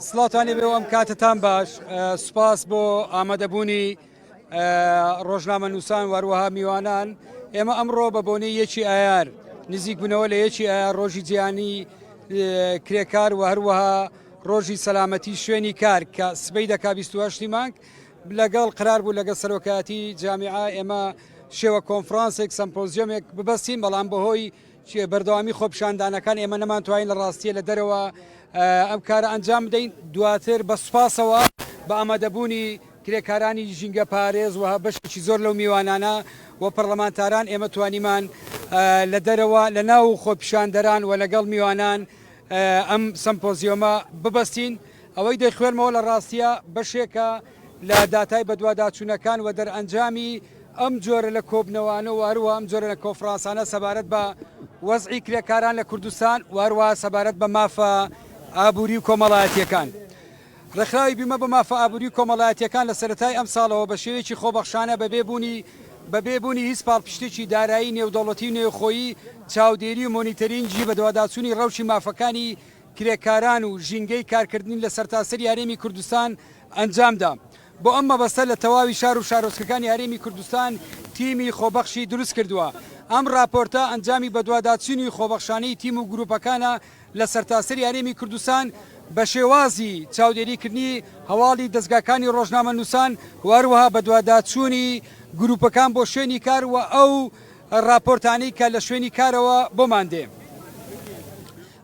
سڵاتانی بێ ئەم کاتتان باش سوپاس بۆ ئامادەبوونی ڕۆژنامە نووسان وەروەها میوانان ئێمە ئەمڕۆ بە بۆنەی یەکی ئایار نزیک بنەوە لە یەکی ئایار ڕۆژی جیانی کرێکار و هەروەها ڕۆژی سەلامەتی شوێنی کار کە سبەی دەکا 28 مانگ لەگەڵ قرار بوو لەگە سەرۆکاتی جامیعا ئێمە شێوە کۆنفرانسێک سمپۆزیۆمێک ببەستین بەڵام بەهۆی بەردەوامی خۆپیشاندانەکان ئێمە نەمانتوانی لە ڕاستیە لە دەرەوە ئەم کارە ئەنجام بدەین دواتر بە سوپاسەوە بە ئامادەبوونی کرێکارانی ژینگە پارێز و بەشێکی زۆر لەو میوانانە و پەرلەمانتاران ئێمە توانیمان لە دەرەوە لە ناو خۆپیشاندەران و لەگەڵ میوانان ئەم سمپۆزیۆمە ببەستین ئەوەی دەخوێنمەوە لە ڕاستیە بەشێکە لە داتای بەدواداچوونەکان و دەرئەنجامی ئەم جۆرە لە کۆبنەوانە و هەروەها ئەم جۆرە لە کۆنفرانسانە سەبارەت بە وەزعی کرێکاران لە کوردستان و هەروەها سەبارەت بە مافە ئابووری و کۆمەڵایەتیەکان. ڕێکخراوی بیمە بۆ مافە ئابووری و کۆمەڵایەتیەکان لە سەرەتای ئەمساڵەوە بە شێوەیەکی خۆبەخشانە بەبێ بوونی بەبێ بوونی هیچ پاڵپشتێکی دارایی نێودەوڵەتی و نێوخۆیی چاودێری و مۆنیتەرینگی بەدواداچوونی ڕەوشی مافەکانی کرێکاران و ژینگەی کارکردنی لە سەرتاسەری هەرێمی کوردستان ئەنجام دا. بۆ ئەم مەبەستە لە تەواوی شار و شارۆچکەکانی هەرێمی کوردستان تیمی خۆبەخشی دروست کردووە. ئەم راپۆرتە ئەنجامی بەدواداچوونی خۆبەخشانەی تیم و گرووپەکانە لە سەرتاسەری هەرێمی کوردستان بە شێوازی چاودێریکردنی هەواڵی دەزگاکانی رۆژنامەنووسان و هەروەها بەدواداچوونی گرووپەکان بۆ شوێنی کار و ئەو راپۆرتانەی کە لە شوێنی کارەوە بۆمان دێ.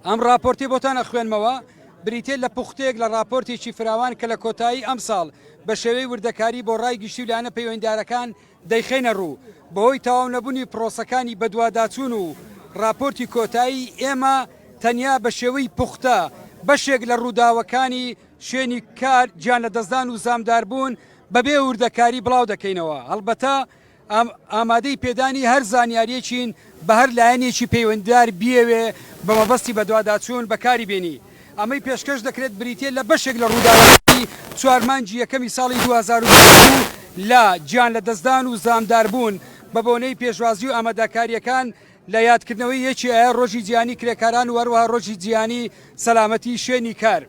ئەم ڕاپۆرتەی بۆتان ئەخوێنمەوە بریتیە لە پوختەیەک لە ڕاپۆرتێکی فراوان کە لە کۆتایی ئەمساڵ بە شێوەی وردەکاری بۆ ڕای گشتی و لایەنە پەیوەندیدارەکان دەیخەینە ڕوو بەهۆی تەواو نەبونی پرۆسەکانی بەدواداچون و ڕاپۆرتی کۆتایی ئێمە تەنیا بە شێوەی پوختە بەشێک لە ڕوداوەکانی شوێنی کار گیانلەدەستدان و زامداربون بەبێ وردەکاری بڵاودەکەینەوە هەڵبەتە ئامادەی پێدانی هەر زانیاریەکین بە هەر لایەنێکی پەیوەندیدار بیەوێ بە مەبەستی بەدواداچوون بە کاری بێنی ئەمەی پێشکەش دەکرێت بریتیە لە بەشێک لە ڕووداوەکانی چوار مانگی یەکەمی ساڵی دوو هەزار و بیست و دوو لە گیان لە دەستدان و زامدار بوون بە بۆنەی پێشوازی و ئاماداکاریەکان لە یادکردنەوەی یەکی ئایار ڕۆژی جیهانی کرێکاران و هەروەها ڕۆژی جیهانی سەلامەتی شوێنی کار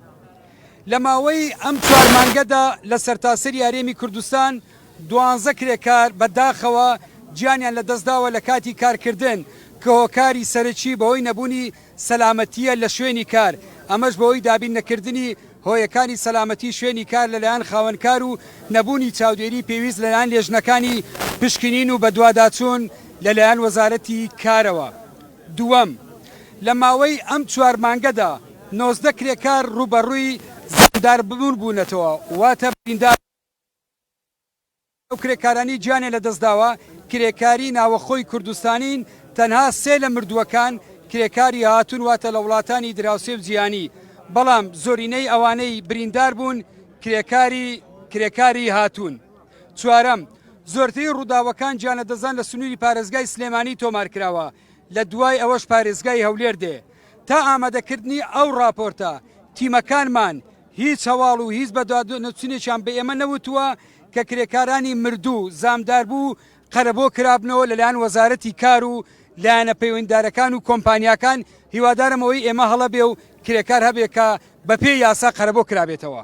لە ماوەی ئەم چوار مانگەدا لە سەرتاسەری هەرێمی کوردستان دوانزە کرێکار بە داخەوە گیانیان لە دەست داوە لە کاتی کار کردن کە هۆکاری سەرەکی بەهۆی نەبوونی سەلامەتییە لە شوێنی کار ئەمەش بەهۆی دابین نەکردنی هۆیەکانی سەلامەتی شوێنی کار لە لایەن خاوەن کار و نەبوونی چاودێری پێویست لە لایەن لێژنەکانی پشکنین و بەدواداچوون لە لایەن وەزارەتی کارەوە دووەم لە ماوەی ئەم چوار مانگەدا نۆزدە کرێکار ڕووبەڕووی زەمدار بوون بوونەتەوە واتە بریندار ئەو کرێکارانەی گیانیان لەدەستداوە، کرێکاری ناوەخۆی کوردستانین، تەنها سێ لە مردووەکان کرێکاری هاتوون واتە لە وڵاتانی دراوسێ و جیهانی، بەڵام زۆرینەی ئەوانەی برینداربوون کرێکاری کرێکاری هاتوون. چوارەم، زۆرترین ڕووداوەکان گیانلەدەستدان لە سنووری پارێزگای سلێمانی تۆمارکراوە، لەدوای ئەوەش پارێزگای هەولێر دێ. تا ئامادەکردنی ئەو ڕاپۆرتە تیمەکانمان هیچ هەواڵ و هیچ بەدواداچونێکیان بە ئێمە نەوتووە کە کرێکارانی مردوو، زامداربوو و قەرەبۆ کرابنەوە لەلایەن وەزارەتی کار و لایەنە پەیوەندیدارەکان و کۆمپانیاکان، هیوادارم ئەوەی ئێمە هەڵە بێ و کرێکار هەبێ کە بەپێی یاسا قەرەبۆ کرابێتەوە.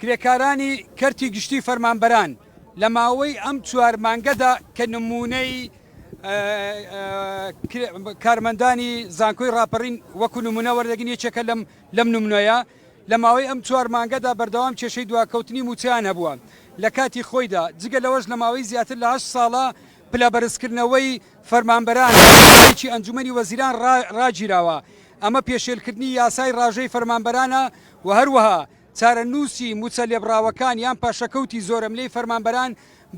کرێکارانی کەرتی گشتی فەرمانبەران لە ماوەی ئەم چوار مانگەدا کە نموونەی کارمەندانی زانکۆی ڕاپەڕین وەکو نمونە وەردەگین یەکێکە لەم لەم نمونەیە لە ماوەی ئەم چوار مانگەدا بەردەوام کێشەی دواکەوتنی موچەیان هەبووە لە کاتی خۆیدا جگە لەوەش لە ماوەی زیاتر لە هەشت ساڵە پلە بەرزکردنەوەی فەرمانبەران چی ئەنجومەنی وەزیران ڕاگیراوە ئەمە پێشێلکردنی یاسای ڕاژەی فەرمانبەرانە و هەروەها چارەنووسی مووچە لێبڕاوەکان یان پاشەکەوتی زۆرەملێی فەرمانبەران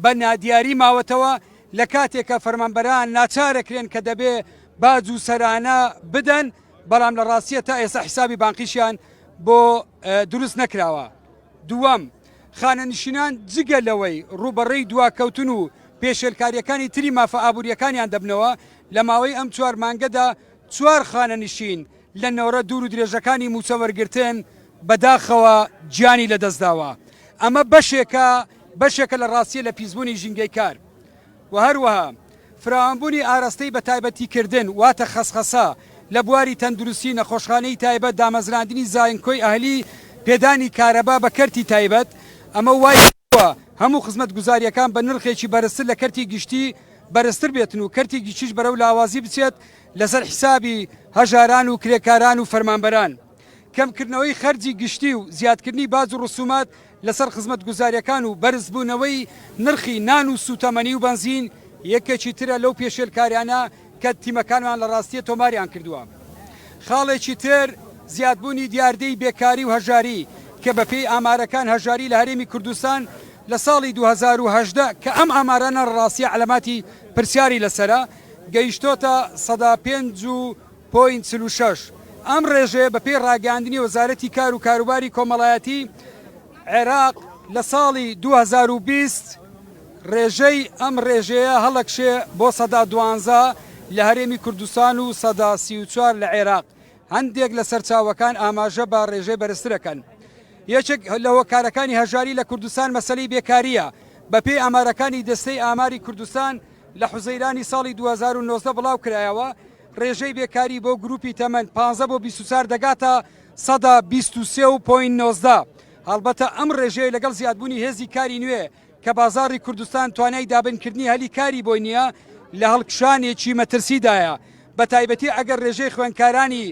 بە نادیاری ماوەتەوە، لە کاتێکا فەرمانبەران ناچارەکرێن کە دەبێ باج و سەرانە بدەن، بەڵام لە ڕاستییە تا ئێستا حیسابی بانقیشیان بۆ دروست نەکراوە. دووەم، خانەنشینان جگە لەوەی ڕووبەڕی دواکەوتن و پێشێلکارییەکانی تری مافە ئابوورییەکانیان دەبنەوە، لە ماوەی ئەم چوار مانگەدا چوار خانەنشین لە نۆرە دوور و درێژەکانی مووچە وەرگرتن بەداخەوە گیانی لەدەستداوە، ئەمە بەشێکە بەشێکە لە ڕاستییە لە پیسبوونی ژینگەی کار و هەروەها فراوانبوونی ئاراستەی بەتایبەتیکردن واتە خەسخەسە لە بواری تەندروستی، نەخۆشخانەی تایبەت، دامەزراندنی زایەنکۆی ئەهلی، پێدانی کارەبا بە کەرتی تایبەت، ئەمە وایکردووە هەموو خزمەتگوزارییەکان بە نرخێکی بەرزتر لە کەرتی گشتی بەرزتر بێتن و کەرتی گیچیش بەرەو لاوازی بچێت لەسەر حیسابی هەژاران و کرێکاران و فەرمانبەران. کەمکردنەوەی خەرجی گشتی و زیادکردنی باج و ڕسومات لەسەر خزمەتگوزاریەکان و بەرزبوونەوەی نرخی نان و سوتەمەنی و بەنزین، یەکێکی ترە لەو پێشێلکاریانە کە تیمەکانمان لە ڕاستیە تۆماریان کردووە. خاڵێکی تر زیادبوونی دیاردەی بێکاری و هەژاری کە بەپێی ئامارەکان هەژاری لە هەرێمی کوردستان، لە ساڵی دوو هەزار و هەژدە کە ئەم ئامارانە ڕاستیە عەلاماتی پرسیاری لەسەرە، گەیشتۆتە سەدا پێنج و پۆینت چل و شەش. ئەم ڕێژەیە بەپێی ڕاگەیاندنی وەزارەتی کار و کاروباری کۆمەڵایەتی عێراق لە ساڵی دوو هەزار و بیست ڕێژەی ئەم ڕێژەیە هەڵەکشێ بۆ سەدا دوانزە لە هەرێمی کوردستان و سەدا سی و چوار لە عێراق هەندێک لە سەرچاوەکان ئاماژە بە ڕێژەی بەرزتر ئەکەن. یەکێک لە هۆکارەکانی هەژاری لە کوردستان مەسەلەی بێکارییە، بەپێی ئامارەکانی دەستەی ئاماری کوردستان لە حوزەیرانی ساڵی دوو هەزار و نۆزدە بڵاوکرایەوە، ڕێژەی بێکاری بۆ گروپی تەمەن پازدە بۆ بیست و چوار دەگاتە سەدا بیست و سێ و پۆینت نۆزدە، هەڵبەتە ئەم ڕێژەیە لەگەڵ زیادبوونی هێزی کاری نوێ، کە بازاڕی کوردستان توانای دابنکردنی هەلی کاری بۆی نییە، لە هەڵکشانێکی مەترسیدایە، بەتایبەتی ئەگەر رێژەی خوێندکارانی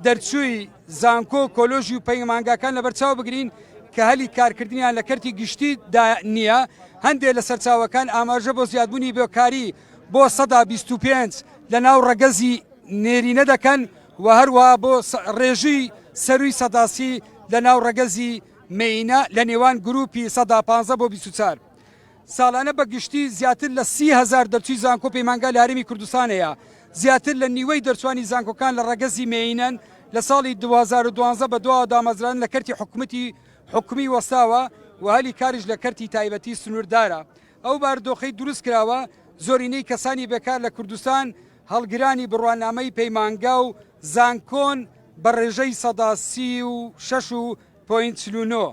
دەرچووی زانکۆ و کۆلۆژی و پەیمانگاکان لەبەرچاو بگرین کە هەلی کارکردنیان لە کەرتی گشتی دا نییە. هەندێ لە سەرچاوەکان ئاماژە بۆ زیادبوونی بێکاری بۆ سەدا بیست و پێنج لە ناو رەگەزی نێرینە دەکەن و هەروەها بۆ رێژەی سەرووی سەدا سی لە ناو رەگەزی مێینە لە نێوان گرووپی سەدا پانزە بۆ بیست و چار. ساڵانە بە گشتی زیاتر لە سی هەزار دەرچووی زانکۆ و پەیمانگا لە هەرێمی کوردستان هەیە. زیاتر لە نیوەی دەرچووانی زانکۆکان لە ڕەگەزی مێینەن، لە ساڵی دوو هەزار و دوازدە بەدواوە دامەزراندن لە کەرتی حکومەتی حکومی وەستاوە و هەلی کاریش لە کەرتی تایبەتی سنووردارە. ئەو بارودۆخەی دروست کراوە زۆرینەی کەسانی بێکار لە کوردستان هەڵگرانی بڕوانامەی پەیمانگا و زانکۆن بە ڕێژەی سەدا سی و شەش و پۆینت چل و نۆ.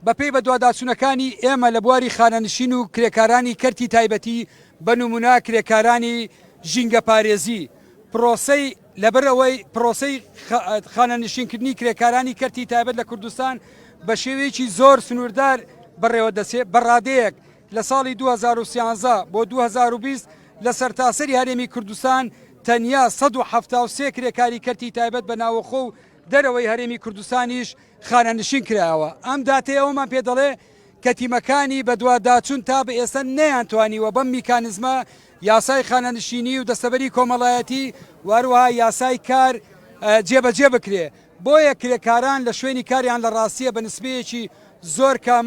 بەپێی بەدواداچوونەکانی ئێمە لە بواری خانەنشین و کرێکارانی کەرتی تایبەتی بە نمونا کرێکارانی ژینگەپارێزی پرۆسەی لەبەر ئەوەی پرۆسەی خانەنشینکردنی کرێکارانی کەرتی تایبەت لە کوردستان بە شێوەیەکی زۆر سنووردار بەڕێوە دەچێت بە ڕادەیەک لە ساڵی دوو هەزار و سیانزە بۆ دوو هەزار و بیست لە سەرتاسەری هەرێمی کوردستان تەنیا سەد و حەفتا و سێ کرێکاری کەرتی تایبەت بە ناوەخۆ و دەرەوەی هەرێمی کوردستانیش خانەنشین کرایەوە. ئەم داتەی ئەوەمان پێ دەڵێ کە تیمەکانی بەدواداچوون تا بە ئێستا نەیانتوانیوە بەم میکانیزمە یاسای خانەنشینی و دەستەبەری کۆمەڵایەتی و هەروەها یاسای کار جێبەجێ بکرێ. بۆیە کرێکاران لە شوێنی کاریان لە ڕاستیە بە نسبەیەکی زۆر کەم